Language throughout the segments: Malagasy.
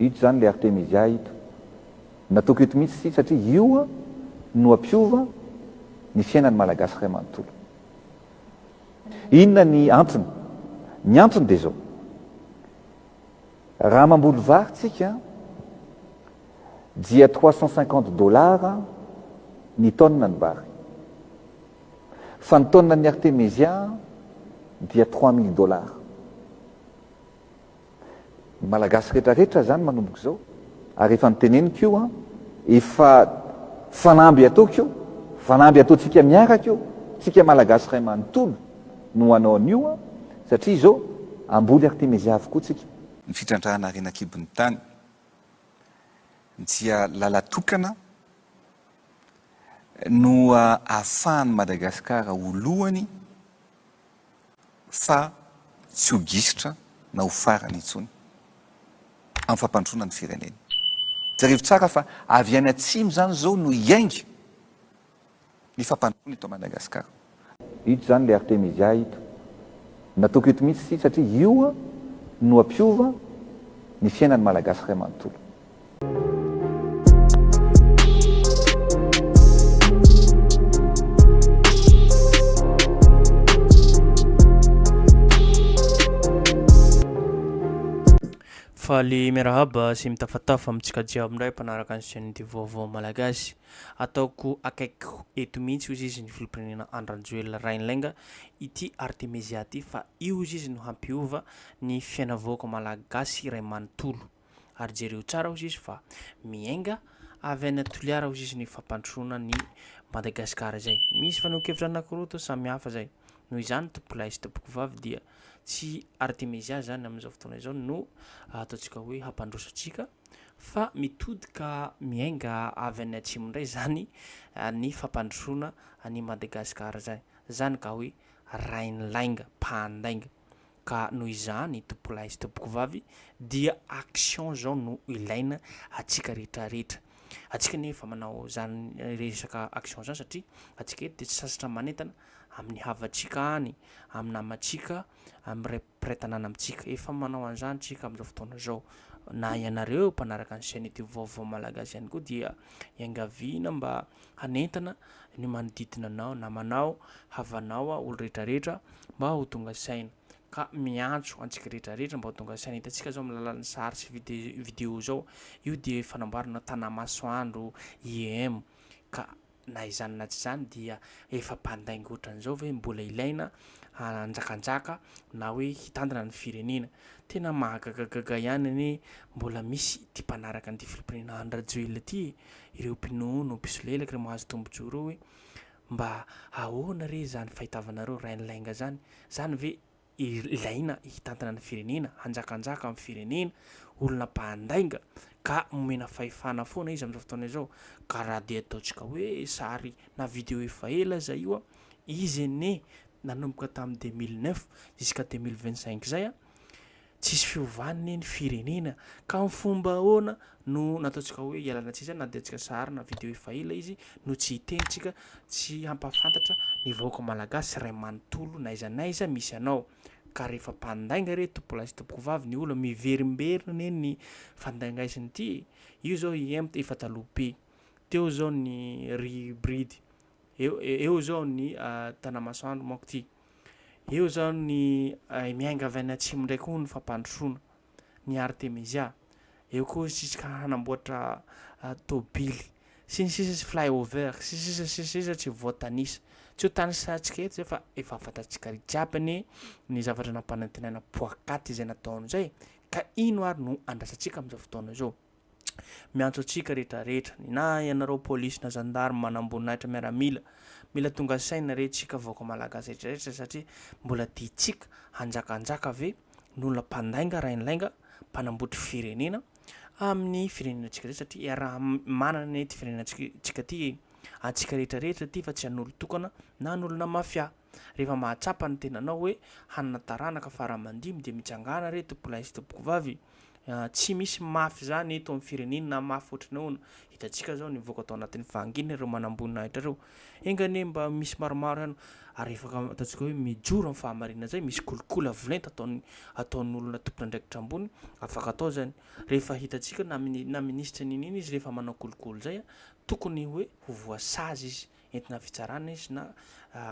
Ito izany ilay Artemisia ito. Nataoko eto mihitsy ity satria io no hampiova ny fiainan'ny Malagasy iray manontolo. Inona ny antony? Ny antony dia izao. Raha mamboly vary tsika dia trois cent cinquante dollars ny tonne ny vary. Fa ny tonne ny Artemisia dia trois mille dollars. Ny Malagasy rehetra rehetra zany manomboka izao ary efa niteneniko io an, efa fanamby ataoko io, fanamby ataontsika miaraka io, tsika Malagasy ray manontolo no hanao an'io an, satria izao hamboly Artemezia avokoa tsika. Ny fitrandrahana harena an-kibon'ny tany dia lalatokana no ahafahan'i Madagasikara ho lohany. fa tsy ho gisitra na ho farany intsony amin'ny fampandrosoana ny firenena. Jereo tsara fa avy any atsimo izany izao no hiainga ny fampandrosoana eto Madagascar. Ito izany ilay Artemisia ito. Nataoko eto mihitsy ity satria io no hampiova ny fiainan'ny Malagasy iray manontolo. Faly miarahaba sy mitafatafa amintsika jiaby indray mpanaraka ny chaîne de vaovao malagasy. Ataoko akaikiko eto mihitsy hoy izy ny filoham-pirenena Andry Rajoelina Rainilainga ity Artemisia ity fa io hoy izy no hampiova ny fiainam-vahoaka malagasy iray manontolo. ary jereo tsara ozy izy fa miainga avy any a Toliara ozy izy ny fampandrosoana ny Madagasikara izay misy fanehoan-kevitra anakiroa toa samy hafa izay noho izany tompolahy sy tompokovavy dia tsy artemezia izany amin'izao fotoana izao no ataontsika hoe hampandroso antsika fa mitodika miainga avy any atsimo indray izany ny fampandrosoana any Madagasikara izay izany ka hoe rain'ny lainga mpandainga Ka noho izany tompolahy sy tompokovavy dia action izao no ilaina antsika rehetra rehetra. Antsika anie efa manao izany resaka action izany satria antsika eto dia tsy sasatra manentana amin'ny havantsika any, amin'ny namantsika, amin'ny ray mpiray tanàna amintsika. Efa manao an'izany isika amin'izao fotoana izao. Na ianareo mpanaraka ny chaîne youtube vaovao Malagasy ihany koa dia iangaviana mba hanentana ny manodidina anao, namanao, havanao, olo rehetra rehetra mba ho tonga saina. Ka miantso antsika rehetra rehetra mba ho tonga saina. Hitantsika zao amin'ny alalan'ny sary sy video zao, io dia fanamboarana tanà-masoandro IEM. Ka na izany na tsy izany dia efa mpandainga ohatran'izao ve mbola ilaina hanjakanjaka na hoe hitantana ny firenena. Tena mahagagagaga ihany anie mbola misy ity mpanaraka an'ity filoham-pirenena Andry Rajoelina ity e! ireo mpinono, mpisolelaka, ireo mahazo tombon-tsoa ireo hoe mba ahoana re izany fahitavanareo rain'ny lainga izany? Izany ve ilaina hitantana ny firenena, hanjakanjaka amin'ny firenena, olona mpandainga ka momena fahefana foana izy amin'izao fotoana izao? Ka raha dia ataontsika hoe sary na video efa ela izay io an, izy anie nanomboka tamin'ny deux mille neuf jusqu'à deux mille vingt cinq izay an, tsisy fiovany ne ny firenena ka am fomba ahoana no nataontsika hoe ialana tsiny zany na dia tsika sahary na video efa ela izy no tsy hiteny tsika tsy hampafantatra ny vahoaka malagasy ray manontolo na aiza na aiza misy anao ka rehefa mpandainga re tompolahy sy tompoko vavy ny olona miverimberina ne ny fandaingaisiny ty io zao i emta efa taloha be teo zao ny ry bridy eo eo zao ny tanamasoandro manko ty Eo izao ny miainga avy any atsimo indray koa ny fampandrosoana ny Artemisia. Eo koa isika hanamboatra tôbily sy ny sisa sy flyover sy sisa sy sisa tsy voatanisa. Tsy ho tanisantsika eto izay fa efa fantatsika jiaby ny ny zavatra nampanantenaina poakaty izay nataony izay ka ino ary no andrasantsika amin'izao fotoana izao. miantso antsika rehetra rehetra ny na ianareo polisy na zandarme manamboninahitra miaramila mila tonga saina re tsika vahoaka malagasy rehetra rehetra satria mbola ditsika hanjaka hanjaka ve nolona mpandainga rainlainga mpanambotry firenena amin'ny firenena tsika rehetra satria iaraha manana ny ety firenena tsika ty atsika rehetra rehetra ty fa tsy an'olo tokana na an'olona mafia Rehefa mahatsapa ny tenanao hoe hanana taranaka fara aman-dimy dia mitsangàna re tompolahy sy tompokovavy. Tsy misy mafy izany eto amin'ny firenena na mafy ohatry ny ahoana. Hitantsika izao nivoaka tao anatin'ny fahanginana ireo manamboninahitra ireo. Enga anie mba misy maromaro ihany ary efa ataontsika hoe mijoro amin'ny fahamarinana izay, misy kolikoly avo lenta ataon'ny ataon'ny olona tompon'andraikitra ambony, afaka atao izany. Rehefa hitantsika na na minisitra n'inona izy rehefa manao kolikoly izay tokony hoe ho voasazy izy. entina fitsarana izy na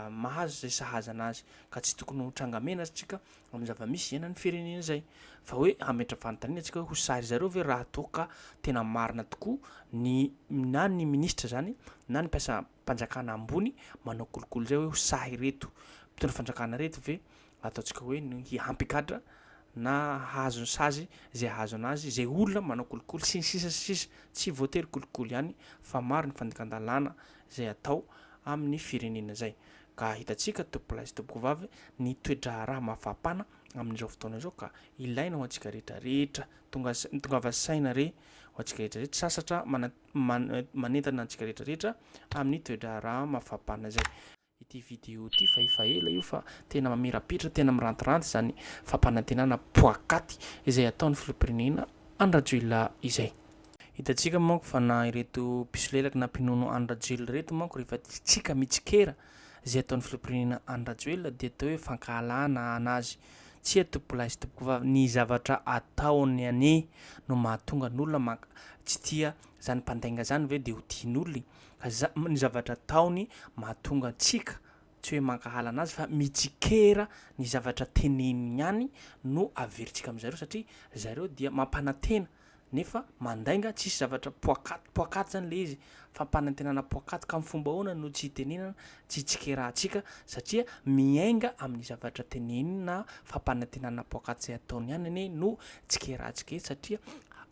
mahazo izay sahaza anazy ka tsy tokony ho tranga mena tsika amin'ny zava-misy iainan'ny firenena izay fa hoe hametra fanontaniana tsika hoe ho sary zareo ve raha toa ka tena marina tokoa ny na ny ministra zany na ny mpiasa mpanjakana ambony manao kolokolo izay hoe ho sahy reto mpitondra fanjakana reto ve ataontsika hoe ny hiampy gadra na hahazo ny sazy izay hahazo anazy, izay olona manao kolikoly sy ny sisa sy ny sisa. Tsy voatery kolikoly ihany fa maro ny fandikan-dalàna izay atao amin'ny firenena izay. Ka hitantsika tompolahy sy tompokovavy ny toe-draharaha mafampana amin'izao fotoana izao ka ilaina ho antsika rehetra rehetra. Tonga tongava saina re ho antsika rehetra rehetra sasatra manentana antsika rehetra rehetra amin'ny toe-draharaha mafampana izay. Ity vidéo ity fa efa ela io fa tena mamirapiratra, tena mirantiranty izany fampanantenana poakaty izay ataon'ny Filoham-pirenena Andry Rajoelina izay. Hitantsika manko fa na ireto mpisolelaka na mpinono Andry Rajoelina ireto manko rehefa tsika mitsikera izay ataon'ny Filoham-pirenena Andry Rajoelina dia atao hoe fankahalana an azy. Tsia tompokolahy sy tompokovavy, ny zavatra ataony anie no mahatonga ny olona manka, tsy tia izany mpandainga izany ve dia ho tian'olona e? ny zavatra ataony mahatonga antsika tsy hoe mankahala anazy fa mitsikera ny zavatra teneniny ihany no averintsika amin'zareo satria zareo dia mampanantena nefa mandainga tsisy zavatra poakaty poakaty zany le izy fampanantenana poakaty ka am fomba ahoana no tsy itenenana tsy itsikerahantsika satria miainga amin'ny zavatra tenenina fampanantenana poakaty zay ataony ihany anie no tsikerahantsika eto satria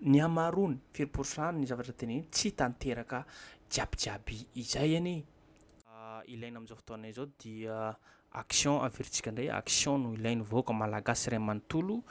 Ny hamaroany, firy pourcent ny zavatra teneniny tsy tanteraka jiabijiaby izay anie. Ilaina amin'izao fotoana izao dia action averintsika indray, action no ilain'ny vahoaka malagasy iray manontolo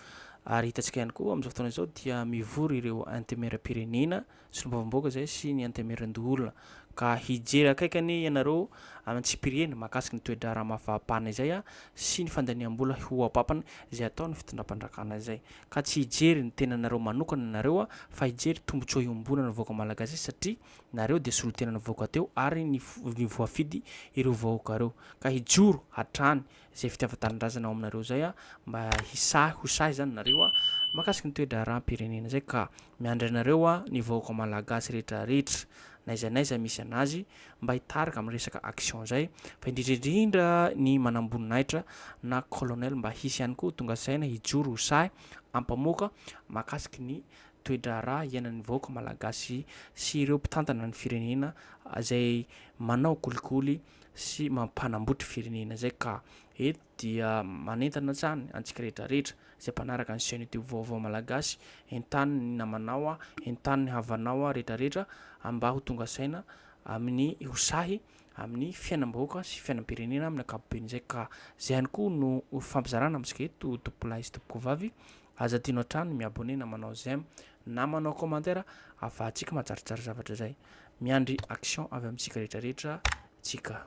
ary hitantsika ihany koa amin'izao fotoana izao dia mivory ireo antemieram-pirenena, solombavambahoaka izay sy ny antemieran-doholona ka hijery akaiky anie ianareo any antsipiriany mahakasika ny toe-draharaha maha faha-pahana izay sy ny fandaniam-bola ho ampapany izay ataon'ny fitondram-pandrakana izay. ka tsy hijery ny tenanareo manokana nareo fa hijery tombotsoa iombonana vahoaka malagasy satria nareo dia solotenana vahoaka teo ary ny voafidy ireo vahoaka ireo ka hijoro hatrany izay fitiavantanindrazana ao aminareo izay mba hisahy ho sahy izany nareo mahakasika ny toedraharaham-pirenena izay ka Miandry anareo hoa ny vahoaka malagasy rehetra rehetra n'aiza n'aiza misy an'azy mba hitarika amin'ny resaka action zay fa indrindra indrindra ny manamboninahitra na colonel mba hisy ihany koa tonga saina hijoro ho sahy ampamoaka makasiky ny toedraharaha iainan'ny vahoaka malagasy sy ireo mpitantana ny firenena zay manao kolikoly sy mampanambotry firenena zay ka et dia manentana hatrany antsika rehetrarehetra izay mpanaraka ny chaîne youtube vaovao malagasy, entano ny namanao, entano ny havanao rehetrarehetra mba ho tonga saina amin'ny ho sahy amin'ny fiainam-bahoaka sy fiainam-pirenena amin'ny ankapobeny izay ka izay ihany koa no fampizarana amintsika eto tompolahy sy tompokovavy aza adino hatrany mi-abonné na manao j'aime na manao commentaire afahantsika mahatsaritrary zavatra izay miandry action avy amintsika rehetrarehetra tsika